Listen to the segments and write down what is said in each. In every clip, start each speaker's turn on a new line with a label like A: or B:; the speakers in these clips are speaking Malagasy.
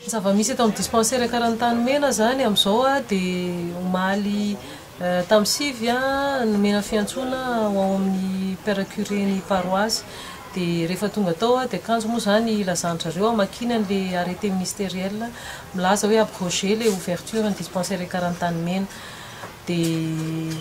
A: Ny zava-misy eto amin'ny dispensaire Karanitanimena izany amin'izao dia omaly tamin'ny sivy nomena fiantsoana ho ao amin'ny Père curé ny paroasy. Dia rehefa tonga tao aho dia kanjo moa izany hilazan-dry zareo hamakiana an'ilay arrêté ministériel milaza hoe abroger ilay ouverture ny dispensaire Karanitanimena. Dia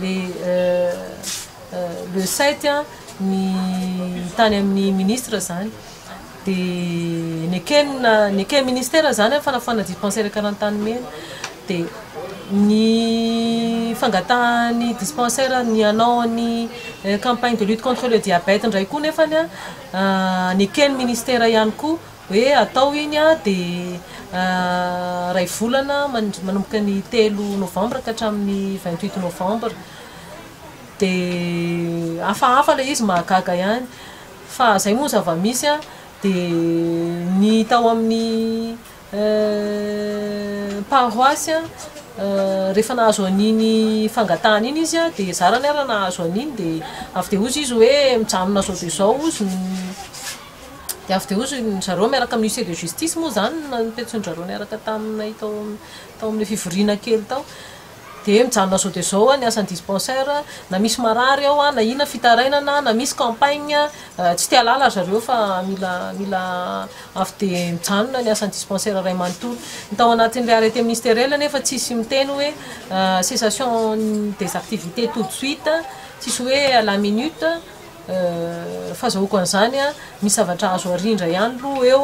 A: le le sept ny tany amin'ny ministre zany de nekena neken ministère zany a fanafana dispensaire karantany mena de ny fangatahan'ny dispensaire ny hanao ny campagne de lutte contre le diabète ndray koa nefany a neken'ny ministère ihany koa Hoe atao iny dia iray volana manomboka ny telo novambra ka hatramin'ny vingt huit novambra. Dia hafahafa ilay izy mahagaga ihany. Fa izay moa ny zava-misy dia ny tao amin'ny paroasy rehefa nahazo an'iny fangatahana iny izy dia zarany ary nahazo an'iny dia avy dia hoy izy hoe mijanona izao dia izao hozy ny Dia avy dia hoy ry zareo miaraka amin'ny huissier de justice moa izany no nipetrain-dry zareo niaraka taminay tao tao amin'ilay fivoriana kely tao. Dia mijanona izao dia izao ny asan'ny dispensaire, na misy marary ao na inona fitarainana na misy campagne, tsy te hahalala ry zareo fa mila mila avy dia mijanona ny asan'ny dispensaire iray manontolo. Ny tao anatin'ilay arrêté ministériel anefa tsisy miteny hoe cessation des activités tout de suite, tsisy hoe à la minute, Fazahoako an'izany an, misy zavatra azo arindra ihany aloha eo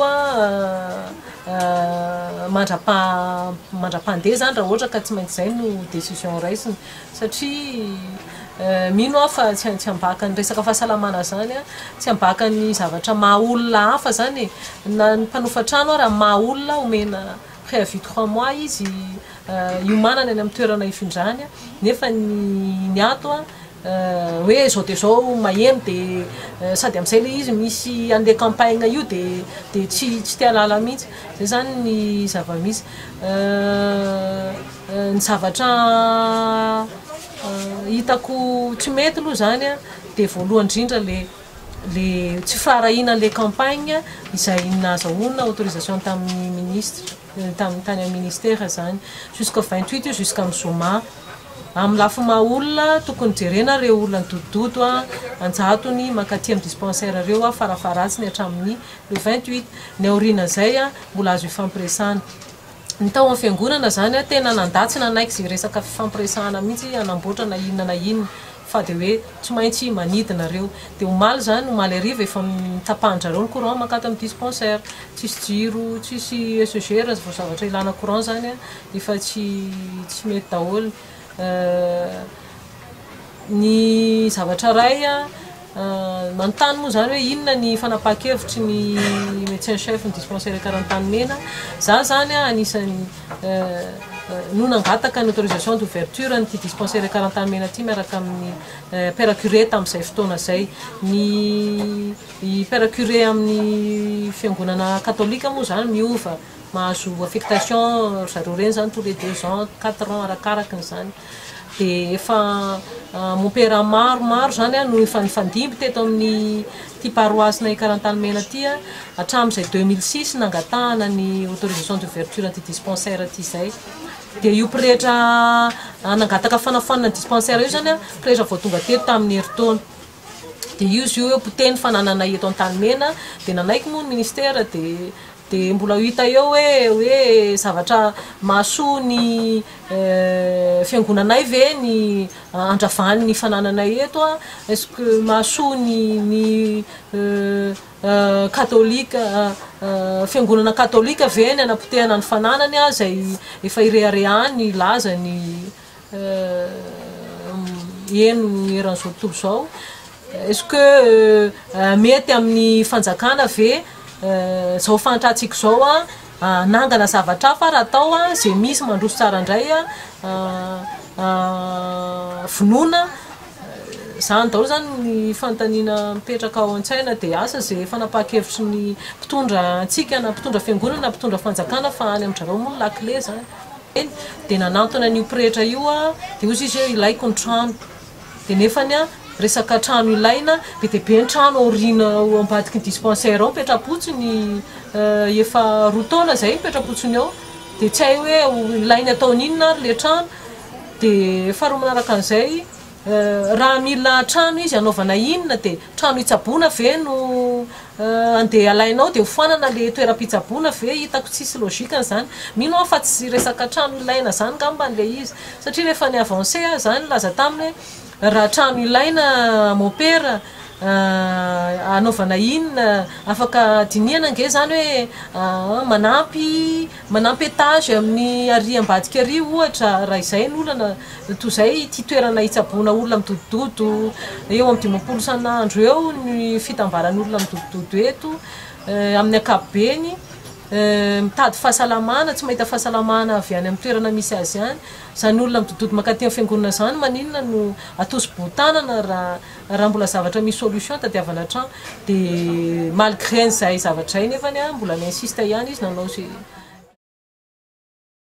A: mandrapaha mandrapahandeha izany raha ohatra ka tsy maintsy izay no décision raisina. Satria mino aho fa tsy tsy ambaka ny resaka fahasalamana izany an, tsy ambaka ny zavatra maha olona hafa izany e. Na ny mpanofa trano ara maha olona omena préavis trois mois izy, hiomanana eny amin'ny toerana hifindrany nefa ny ato hoe izao dia izao maheno dia sady amin'izay ilay izy misy an'ilay campagne io dia dia tsy tsy te halala mihitsy izay izany ny zava-misy ny zavatra hitako tsy mety aloha izany a dia voalohany indrindra le le tsy firaharahiana an'ilay campagne izay nahazahoana autorisation tamin'ny ministra tamin'ny tany amin'ny ministera izany jusqu'au vingt huit io jusqu'amin'ny zoma amin'ny lafiny maha olona tokony jerena ireo olona nidodododo an-jatony mankaty amin'ny dispensaire ireo farafaharatsiny hatramin'ny le vingt huit ny aorian'izay mbola azo hifampiresahana ny tao amin'ny fiangonana izany tena nandà tsy nanaiky izay resaka fifampiresahana mihitsy hanamboatra na inona na inona fa dia hoe tsy maintsy manidina reo dia omaly zany omaly hariva efa tapahan drareo ny courant mankany tamin'ny dispensaire tsisy jiro tsisy ECG raha vao zavatra ilana courant zany efa tsy tsy mety daholo ny zavatra ray manontany moa zany hoe inona ny fanapahan-kevitry ny médecin chef ny dispensaire Karantanimena za zany anisan'ny no nangataka ny autorisation d'ouverture an'ity dispensaire Karantanimena ity miaraka amin'ny père curé tamin'izay fotoana izay. Ny père curé amin'ny fiangonana katolika moa izany miova, mahazo affectation ry zareo ireny izany tous les deux ans, quatre ans arakarakin'izany. dia efa mompera maro maro izany no efa nifandimby teto amin'ity paroasinay Karantanimena ity hatramin'izay 2006 nangatahana ny autorisation d'ouverture an'ity dispensaire ity izay dia io pretra nangataka fanafoanana ny dispensaire io izany pretra vao tonga teto tamin'ny herintaona dia io izy io hoe potehiny fanananay eto Antanimena dia nanaiky moa ny ministera dia Dia mbola ho hita eo hoe hoe zavatra mahasoa ny fiangonanay ve ny andravan' ny fanananay eto a? Est ce que mahasoa ny ny katolika fiangonana katolika ve ny hanapotehana ny fananany a? Izay efa ireharehany hilaza ny eny eran'izao tontolo izao est ce que mety amin'ny fanjakana ve izao fahantratsika izao hanangana zavatra hafa ary atao izay misy mandroso tsara indray vonoina izany daholo izany ny fanontaniana mipetraka ao an-tsaina dia asa izay fanapahan-kevitry ny mpitondra antsika na mpitondra fiangonana na mpitondra fanjakana fa any amin-dry zareo moa ny lakile izany kely dia nanantona an'io pretra io aho dia hozy izy hoe ilaiko ny trano dia nefany an resaka trano ilaina be dia be ny trano aoriana ao ambadiky ny dispensaire ao mipetra-potsiny efa roa taona izay mipetra-potsiny ao dia tsy hay hoe ilainy ataony inona ary ilay trano dia faharoa manaraka an'izay Raha mila trano izy hanaovana inona dia trano hitsaboana ve no andeha alainao dia hofoanana le toeram-pitsaboana ve hitako tsisy logique an'izany mino aho fa tsy resaka trano ilaina izany ngamba le izy satria rehefa ny avancé aho zany nilaza taminy hoe raha trano ilaina mon père hanaovana inona afaka dinihana ange zany hoe manampy Manampy étage amin'ny arỳ ambadika arỳ, ohatra, raha izay ny olana, toy izay ity toerana itsaboana olona midodododo eo amin'ny dimampolo isan'andro eo ny fitambaran'olona midodododo eto, amin'ny ankapobeny, mitady fahasalamana, tsy mahita fahasalamana avy any amin'ny toerana misy azy any. Izany olona midodododo mankaty amin'ny fiangonana izany, maninona no atosi-boho-tanana raha, Raha mbola zavatra misy solution tadiavana hatrany de malgré an'izay zavatra izay nefany mbola mi-insiste ihany izy nanao izay